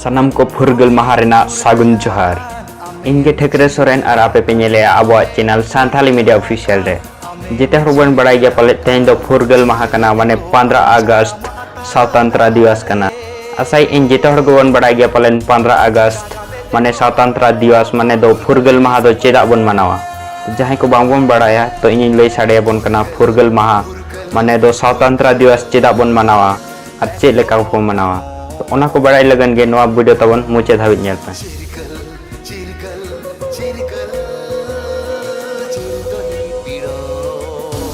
ᱥᱟᱱᱟᱢ ᱠᱚ ᱯᱷᱩᱨᱜᱟᱹᱞ ᱢᱟᱦᱟ ᱨᱮᱱᱟᱜ ᱥᱟᱹᱜᱩᱱ ᱡᱚᱦᱟᱨ ᱤᱧ ᱜᱮ ᱴᱷᱟᱹᱠᱨᱮ ᱥᱚᱨᱮᱱ ᱟᱨ ᱟᱯᱮ ᱯᱮ ᱧᱮᱞᱮᱜᱼᱟ ᱟᱵᱚᱣᱟᱜ ᱪᱮᱱᱮᱞ ᱥᱟᱱᱛᱷᱟᱞᱤ ᱢᱤᱰᱤᱭᱟ ᱚᱯᱷᱤᱥᱤᱭᱟᱞ ᱨᱮ ᱡᱮᱛᱮ ᱦᱚᱲ ᱵᱚᱱ ᱵᱟᱲᱟᱭ ᱜᱮᱭᱟ ᱯᱟᱞᱮᱫ ᱛᱮᱦᱮᱧ ᱫᱚ ᱯᱷᱩᱨᱜᱟᱹᱞ ᱢᱟᱦᱟ ᱠᱟᱱᱟ ᱢᱟᱱᱮ ᱯᱚᱱᱫᱨᱚ ᱟᱜᱚᱥᱴ ᱥᱟᱶᱛᱟᱱᱛᱨᱟ ᱫᱤᱣᱟᱥ ᱠᱟᱱᱟ ᱟᱥᱟᱭ ᱤᱧ ᱡᱮᱛᱮ ᱦᱚᱲ ᱜᱮᱵᱚᱱ ᱵᱟᱲᱟᱭ ᱜᱮᱭᱟ ᱯᱟᱞᱮᱱ ᱯᱚᱱᱫᱨᱚ ᱟᱜᱚᱥᱴ ᱢᱟᱱᱮ ᱥᱟᱶᱛᱟᱱᱛᱨᱟ ᱫᱤᱣᱟᱥ ᱢᱟᱱᱮ ᱫᱚ ᱯᱷᱩᱨᱜᱟᱹᱞ ᱢᱟᱦᱟ ᱫᱚ ᱪᱮᱫᱟᱜ ᱵᱚᱱ ᱢᱟᱱᱟᱣᱟ ᱡᱟᱦᱟᱸᱭ ᱠᱚ ᱵᱟᱝ ᱵᱚᱱ ᱵᱟᱲᱟᱭᱟ ᱛᱚ ᱤᱧᱤᱧ ᱞᱟᱹᱭ ᱥᱟᱰᱮᱭᱟᱵᱚᱱ ᱠᱟᱱᱟ ᱯᱷᱩᱨᱜᱟᱹᱞ ᱢᱟᱦᱟ ᱢᱟᱱᱮ ᱫᱚ ᱥᱟᱶᱛᱟᱱᱛᱨᱟ ᱫᱤᱣᱟᱥ ᱪᱮᱫᱟᱜ ᱵᱚᱱ ᱢᱟᱱᱟᱣᱟ ᱟᱨ ᱪᱮᱫ ᱞᱮᱠᱟ ᱠᱚ ᱢᱟᱱᱟᱣᱟ ᱛᱚ ᱚᱱᱟ ᱠᱚ ᱵᱟᱲᱟᱭ ᱞᱟᱹᱜᱤᱫ ᱜᱮ ᱱᱚᱣᱟ ᱵᱷᱤᱰᱤᱭᱳ ᱛᱟᱵᱚᱱ ᱢᱩᱪᱟᱹᱫ ᱫᱷᱟᱹᱵᱤᱡ ᱧᱮᱞ ᱯᱮ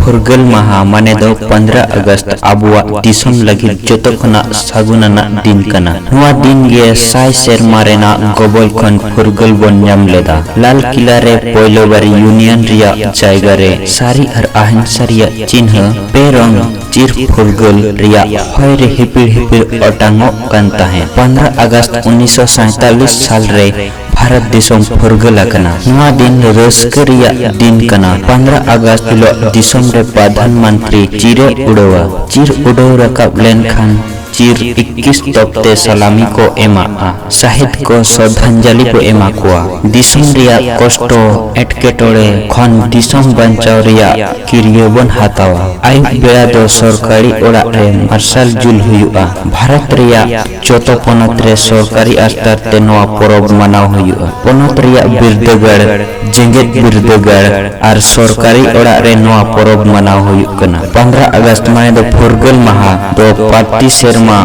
ᱯᱷᱩᱨᱜᱟᱹᱞ ᱢᱟᱦᱟ ᱢᱟᱱᱮ ᱫᱚ 15 ᱟᱜᱚᱥᱴ ᱟᱵᱚᱣᱟᱜ ᱫᱤᱥᱚᱢ ᱞᱟᱹᱜᱤᱫ ᱡᱚᱛᱚ ᱠᱷᱚᱱᱟᱜ ᱥᱟᱹᱜᱩᱱ ᱟᱱᱟᱜ ᱫᱤᱱ ᱠᱟᱱᱟ ᱱᱚᱣᱟ ᱫᱤᱱ ᱜᱮ ᱥᱟᱭ ᱥᱮᱨᱢᱟ ᱨᱮᱱᱟᱜ ᱜᱚᱵᱚᱞ ᱠᱷᱚᱱ ᱯᱷᱩᱨᱜᱟᱹᱞ ᱵᱚᱱ ᱧᱟᱢ ᱞᱮᱫᱟ ᱞᱟᱞ ᱠᱤᱞᱟ ᱨᱮ ᱯᱳᱭᱞᱳ ᱵᱟᱨ ᱭᱩᱱᱤᱭᱚᱱ ᱨᱮᱭᱟᱜ ᱡᱟᱭᱜᱟ ᱨᱮ ᱥᱟᱹᱨᱤ ᱟᱨ ᱟᱦᱤᱝᱥᱟ ᱨᱮᱭᱟᱜ ᱪᱤᱱᱦᱟᱹ ᱯᱮ ᱨᱚᱝ ᱪᱤᱨ ᱯᱷᱩᱨᱜᱟᱹᱞ ᱨᱮᱭᱟᱜ ᱦᱚᱭ ᱨᱮ ᱦᱤᱯᱤᱲ ᱦᱤᱯᱤᱲ ᱚᱴᱟᱝᱚᱜ ᱠᱟᱱ ᱛᱟᱦᱮᱸᱫ᱾ ᱯᱚᱱᱫᱽᱨᱚ ᱟᱜᱚᱥᱴ ᱩᱱᱤᱥ ᱥᱚ ᱥᱟᱸᱭᱛᱟᱞᱤᱥ ᱥᱟᱞ ᱨᱮ ᱵᱷᱟᱨᱚᱛ ᱫᱤᱥᱚᱢ ᱯᱷᱩᱨᱜᱟᱹᱞ ᱟᱠᱟᱱᱟ᱾ ᱱᱚᱣᱟ ᱫᱤᱱ ᱨᱟᱹᱥᱠᱟᱹ ᱨᱮᱭᱟᱜ ᱫᱤᱱ ᱠᱟᱱᱟ᱾ ᱯᱚᱱᱫᱽᱨᱚ ᱟᱜᱚᱥᱴ ᱦᱤᱞᱚᱜ ᱫᱤᱥᱚᱢ ᱨᱮ ᱯᱨᱚᱫᱷᱟᱱ ᱢᱚᱱᱛᱨᱤ ᱪᱤᱨ ᱮ ᱩᱰᱟᱹᱣᱟ᱾ ᱪᱤᱨ ᱩᱰᱟᱹᱣ ᱨᱟᱠᱟᱵ ᱞᱮᱱ ᱠᱷᱟᱱ᱾ ᱪᱤᱨ ᱤᱠᱠᱤᱥ ᱛᱚᱯ ᱛᱮ ᱥᱟᱞᱟᱢᱤ ᱠᱚ ᱮᱢᱟᱜᱼᱟ᱾ ᱥᱟᱦᱮᱫ ᱠᱚ ᱥᱨᱚᱫᱷᱟᱧᱡᱟᱞᱤ ᱠᱚ ᱮᱢᱟ ᱠᱚᱣᱟ᱾ ᱫᱤᱥᱚᱢ ᱨᱮᱭᱟᱜ ᱠᱚᱥᱴᱚ ᱮᱴᱠᱮᱴᱚᱬᱮ ᱠᱷᱚᱱ ᱫᱤᱥᱚᱢ ᱵᱟᱧᱪᱟᱣ ᱨᱮᱭᱟᱜ ᱠᱤᱨᱭᱟᱹ ᱵᱚᱱ ᱦᱟᱛᱟᱣᱟ᱾ ᱟᱹᱭᱩᱵ ᱵᱮᱲᱟ ᱫᱚ ᱥᱚᱨᱠᱟᱨᱤ ᱚᱲᱟᱜ ᱨᱮ ᱢᱟᱨᱥᱟᱞ ᱡᱩᱞ ᱦᱩᱭᱩᱜᱼᱟ᱾ ᱵᱷᱟᱨᱚᱛ ᱨᱮᱭᱟᱜ ᱡᱚᱛᱚ ᱯᱚᱱᱚᱛ ᱨᱮ ᱥᱚᱨᱠᱟᱨᱤ ᱟᱥᱛᱟᱨ ᱛᱮ ᱱᱚᱣᱟ ᱯᱚᱨᱚᱵᱽ ᱢᱟᱱᱟᱣ ᱦᱩᱭᱩᱜᱼᱟ᱾ ᱯᱚᱱᱚᱛ ᱨᱮᱭᱟᱜ ᱵᱤᱨᱫᱟᱹᱜᱟᱲ᱾ ᱡᱮᱜᱮᱛ ᱵᱤᱨᱫᱟᱹᱜᱟᱲ ᱟᱨ ᱥᱚᱨᱠᱟᱨᱤ ᱚᱲᱟᱜ ᱨᱮ ᱱᱚᱣᱟ ᱯᱚᱨᱚᱵᱽ ᱢᱟᱱᱟᱣ ᱦᱩᱭᱩᱜ ᱠᱟᱱᱟ᱾ ᱯᱚᱱᱫᱽᱨᱟ ᱟᱜᱚᱥᱴ ᱢᱟᱱᱮ ᱫᱚ ᱯᱷᱩᱨᱜᱟᱹᱞ ᱢᱟᱦᱟ ᱫᱚ ᱯᱟᱨᱛᱤ ᱥᱮᱨᱢᱟ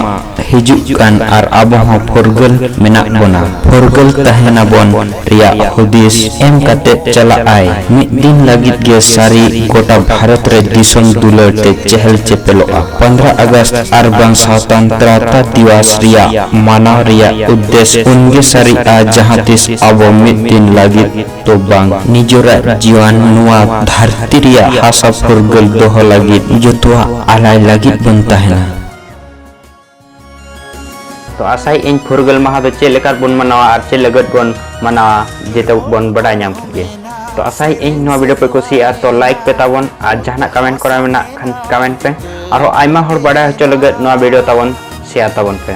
ᱦᱤᱡᱩᱜ ᱠᱟᱱ ᱟᱨ ᱟᱵᱚ ᱦᱚᱸ ᱯᱷᱩᱨᱜᱟᱹᱞ ᱢᱮᱱᱟᱜ ᱵᱚᱱᱟ᱾ ᱯᱷᱩᱨᱜᱟᱹᱞ ᱛᱟᱦᱮᱸ ᱱᱟᱵᱚᱱ ᱨᱮᱭᱟᱜ ᱦᱩᱫᱤᱥ ᱮᱢ ᱠᱟᱛᱮ ᱪᱟᱞᱟᱜ ᱟᱭ ᱢᱤᱫ ᱫᱤᱱ ᱞᱟᱹᱜᱤᱫ ᱜᱮ ᱥᱟᱹᱨᱤ ᱜᱚᱴᱟ ᱵᱷᱟᱨᱚᱛ ᱨᱮ ᱫᱤᱥᱚᱢ ᱫᱩᱞᱟᱹᱲ ᱛᱮ ᱪᱮᱦᱮᱞ ᱪᱮᱯᱮᱞᱚᱜᱼᱟ᱾ ᱯᱚᱱᱫᱽᱨᱟ ᱟᱜᱚᱥᱴ ᱟᱨ ᱵᱟᱝ ᱥᱟᱶᱛᱟᱱᱛᱨᱟᱛᱟ ᱫᱤᱣᱟᱥ ᱨᱮᱭᱟᱜ ᱢᱟᱱᱟᱣ ᱨᱮᱭᱟᱜ ᱩᱫᱽᱫᱮᱥ ᱩᱱᱜᱮ ᱥᱟᱹᱨᱤᱜᱼᱟ ᱡᱟᱦᱟᱸ ᱛᱤᱥ ᱟᱵᱚ ᱢᱤᱫ ᱫᱤᱱ ᱞᱟᱹᱜᱤᱫ ᱫᱚ ᱵᱟᱝ ᱱᱤᱡᱚᱨᱟᱜ ᱡᱤᱭᱚᱱ ᱱᱚᱣᱟ ᱫᱷᱟᱹᱨᱛᱤ ᱨᱮᱭᱟᱜ ᱦᱟᱥᱟ ᱯᱷᱩᱨᱜᱟᱹᱞ ᱫᱚᱦᱚ ᱞᱟᱹᱜᱤᱫ ᱡᱚᱛᱚᱣᱟᱜ ᱟᱞᱟᱭ ᱞᱟᱹᱜᱤᱫ ᱵᱚᱱ ᱛᱟᱦᱮᱱᱟ᱾ ᱛᱚ ᱟᱥᱟᱭᱮᱫ ᱟᱹᱧ ᱯᱷᱩᱨᱜᱟᱹᱞ ᱢᱟᱦᱟ ᱫᱚ ᱪᱮᱫ ᱞᱮᱠᱟ ᱵᱚᱱ ᱢᱟᱱᱟᱣᱟ ᱟᱨ ᱪᱮᱫ ᱞᱟᱹᱜᱤᱫ ᱵᱚᱱ ᱢᱟᱱᱟᱣᱟ ᱡᱚᱛᱚ ᱵᱚᱱ ᱵᱟᱰᱟᱭ ᱧᱟᱢ ᱠᱮᱫ ᱜᱮ᱾ ᱛᱚ ᱟᱥᱟᱭᱮᱫ ᱟᱹᱧ ᱱᱚᱣᱟ ᱵᱷᱤᱰᱤᱭᱳ ᱯᱮ ᱠᱩᱥᱤᱭᱟᱜᱼᱟ ᱛᱚ ᱞᱟᱭᱤᱠ ᱯᱮ ᱛᱟᱵᱚᱱ ᱟᱨ ᱡᱟᱦᱟᱱᱟᱜ ᱠᱚᱢᱮᱱᱴ ᱠᱚᱨᱟᱣ ᱢᱮᱱᱟᱜ ᱠᱷᱟᱱ ᱠᱚᱢᱮᱱᱴ ᱯᱮ ᱟᱨᱦᱚᱸ ᱟᱭᱢᱟ ᱦᱚᱲ ᱵᱟᱰᱟᱭ ᱦᱚᱪᱚ ᱞᱟᱹᱜᱤᱫ ᱱᱚᱣᱟ ᱵᱷᱤᱰᱤᱭᱳ ᱛᱟᱵᱚᱱ ᱥᱮᱭᱟᱨ ᱛᱟᱵᱚᱱ ᱯᱮ᱾